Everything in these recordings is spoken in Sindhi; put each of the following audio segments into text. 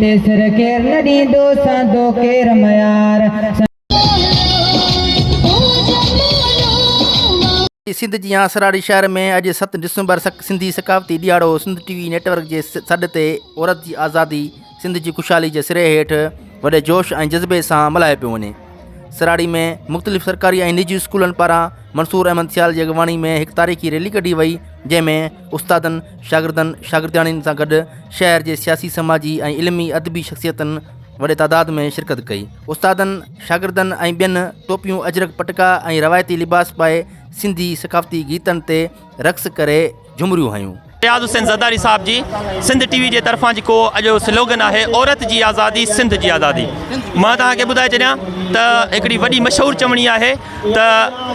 تي سر ڪير نه ڏيندو سهندو ڪير ميار. سنڌ جي آسراڙي شهر ۾ اڄ ست ڊسمبر سنڌي ثقافتي ڏيهاڙو سنڌ ٽي وي نيٽ ورڪ جي سڏ تي عورت جي آزادي سنڌ جي خوشحالي جي سري هيٺ وڏي جوش ۽ جذبي سان ملهايو پيو وڃي سراڙي ۾ مختلف سرڪاري ۽ نجي اسڪولن پاران منصور احمد سيال جي اڳواڻي ۾ هڪ تاريخي ريلي ڪڍي وئي جنهن ۾ استادن، شاگردن، شاگردياڻين سان گڏ شهر جي سياسي، سماجي ۽ علمي ادبي شخصيتن وڏي تعداد ۾ شرڪت ڪئي. استادن، شاگردن ۽ ٻين ٽوپيون اجرڪ پٽڪا ۽ روايتي لباس پائي سنڌي ثقافتي گيتن تي رقص ڪري جهمريون هنيون. اياز حسين زرداري صاحب جي سنڌ ٽي وي جي طرفان جيڪو اڄ جو سلوگن آهي عورت جي آزادي سنڌ جي آزادي مان توهان کي ٻڌائي ڇڏيان ته هڪڙي وڏي مشهور چوڻي آهي. ته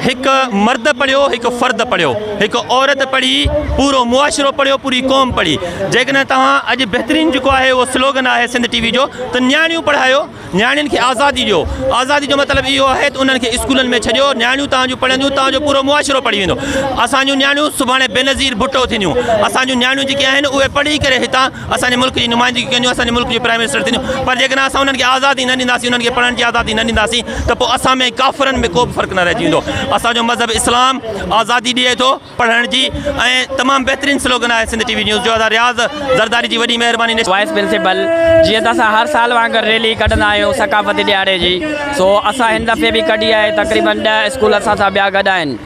هڪ مرد پڙهيو، هڪ فرد پڙهيو، هڪ عورت پڙهي، پورو معاشرو پڙهيو، پوري قوم پڙهي. جيڪڏهن توهان اڄ بهترين جيڪو آهي اهو سلوگن آهي سنڌ ٽي وي جو ته نياڻيون پڙهايو، نياڻين کي آزادي ڏيو. آزادي جو مطلب اهو آهي ته انهن کي اسڪولن ۾ ڇڏيو، نياڻيون توهان جون پڙهنديون، توهان جو پورو معاشرو پڙهي ويندو. اسان جون نياڻيون سڀاڻي بينظير ڀٽو ٿينديون. اسان جون نياڻيون جيڪي آهن اهي پڙهي ڪري هتان اسان جي ملڪ جي نمائندگي ڪنديون اسان جي ملڪ جون پرائيم منسٽر ٿينديون پر جيڪڏهن اسان انهن کي آزادي نه ڏينداسين انهن کي پڙهڻ جي آزادي نه ڏينداسين ته پوء اسان ۾ ۽ ڪافرن ۾ ڪوبه فرق نه رهجي ويندو اسان جو مذهب اسلام آزادي ڏئي ٿو پڙهڻ جي ۽ تمام بهترين سلوگن آهي سنڌ ٽي وي نيوز جو ادا رياض زرداري جي وڏي مهرباني وائيس پرنسپل جيئن ته اسان هر سال وانگر ريلي ڪڍندا آهيون ثقافتي ڏهاڙي جي سو اسان هن دفعي به ڪڍي آهي تقريبن ڏهه اسڪول اسان سان ٻيا گڏ آهن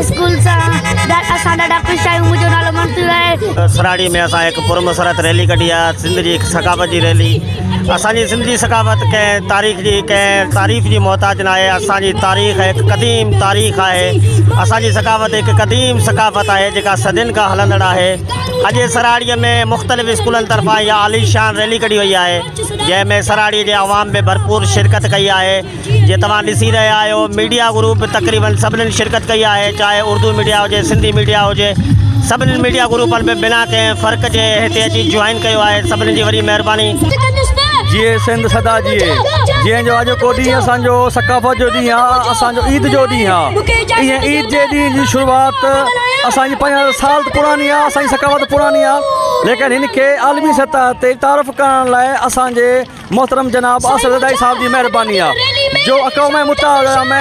اسڪول سان اسان ڏاڍا خوش آهيون منهنجو نالو منصور آهي سراڙي ۾ اسان هڪ پر مسرت ريلي ڪڍي آ سنڌ جي هڪ ثقافت جي ريلي اسان جي سنڌ جي ثقافت ڪنهن تاريخ جي ڪنهن تعريف جي محتاج نه آهي اسان جي تاريخ هڪ قديم تاريخ آهي اسان جي ثقافت هڪ قديم ثقافت آهي جيڪا صدين کان هلندڙ آهي اڄ سراڙي ۾ مختلف اسڪولن طرفان يا عالي شان ريلي ڪڍي وئي آهي جنهن ۾ سراڙي جي عوام ۾ ڀرپور شرڪت ڪئي آهي جيئن توهان ڏسي رهيا آهيو ميڊيا گروپ به تقريبن سڀني شرڪت ڪئي آهي چاهي اردو ميڊيا هجي سنڌي ميڊيا هجي سڀني ميڊيا گروپن به بنا ڪنهن فرق جي هتي اچي جوائن ڪيو آهي سڀني جي وڏي مهرباني. جيئي سنڌ سدا جيئي جنهن جو اڄو ڪو ڏينهن اسان جو ثقافت جو ڏينهن آ اسان جو عيد جو ڏينهن آ ايئن عيد جي ڏينهن جي شروعات اسان جي پنج هزار سال ته پراڻي آ اسان جي ثقافت پراڻي آ ليڪن هن کي عالمي سطح تي تعارف ڪرڻ لاء اسان جي محترم جناب آصف زردائي صاحب جي مهرباني آ جو اقوام متحده ۾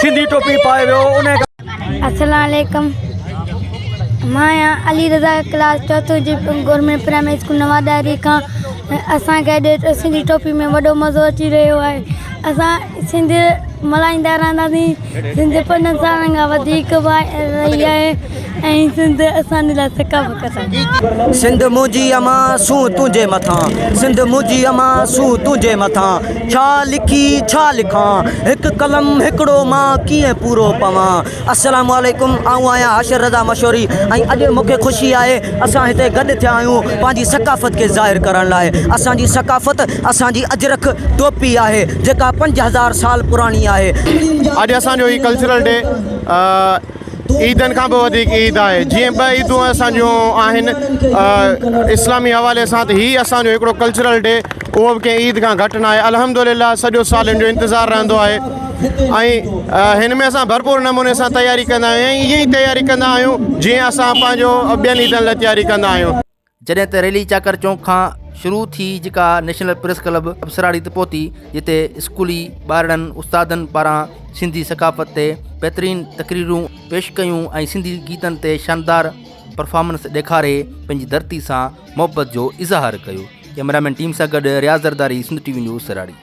سنڌي ٽوپي پائي ويو انهي کان السلام عليڪم مان يا علي رضا ڪلاس چوٿون جي گورنمنٽ پرائمري اسڪول نوان ڏاهري کان اسان کي اڄ سنڌي ٽوپي ۾ وڏو مزو اچي رهيو آهي اسان سنڌ ملهائيندا رهنداسين سنڌ پنج هزارن کان وڌيڪ واري رهي آهي ۽ سنڌ اسان جي لاء ثقافت آهي. سنڌ منهنجي امان سون تنهنجي مٿان سنڌ منهنجي امان سون تنهنجي مٿان ڇا لکي ڇا لکان هڪ قلم هڪڙو مان ڪيئن پورو پوان السلام عليڪم آئون آهيان حاشر رضا مشوري ۽ اڄ مون کي خوشي آهي اسان هتي گڏ ٿيا آهيون پنهنجي ثقافت کي ظاهر ڪرڻ لاء اسان جي ثقافت اسان جي اجرڪ ٽوپي آهي. جيڪا پنج هزار سال پراڻي آهي. اڄ اسان جو هي ڪلچرل ڊي عيدن کان به وڌيڪ عيد آهي جيئن ٻه عيدون اسان جون آهن اسلامي حوالي سان ته هي اسان جو هڪڙو ڪلچرل ڊي اهو به ڪنهن عيد کان گهٽ ناهي الحمدلله سڄو سال هن جو انتظار رهندو آهي ۽ هن ۾ اسان ڀرپور نموني سان تياري ڪندا آهيون ۽ ائين ئي تياري ڪندا آهيون جيئن اسان پنهنجو ٻين عيدن لاء تياري ڪندا آهيون. جڏهن ته ريلي چاڪر چونڪ کان شروع ٿي جيڪا نيشنل پريس ڪلب ابسراڙي تي پهتي جتي اسڪولي ٻارڙن استادن پاران سنڌي ثقافت تي بهترين تقريرون پيش ڪيون ۽ سنڌي گيتن تي شاندار پرفارمنس ڏيکاري پنهنجي ڌرتي سان محبت جو اظهار ڪيو ڪئميرامين ٽيم سان گڏ Riaz Zardari Sindh T V news سراڙي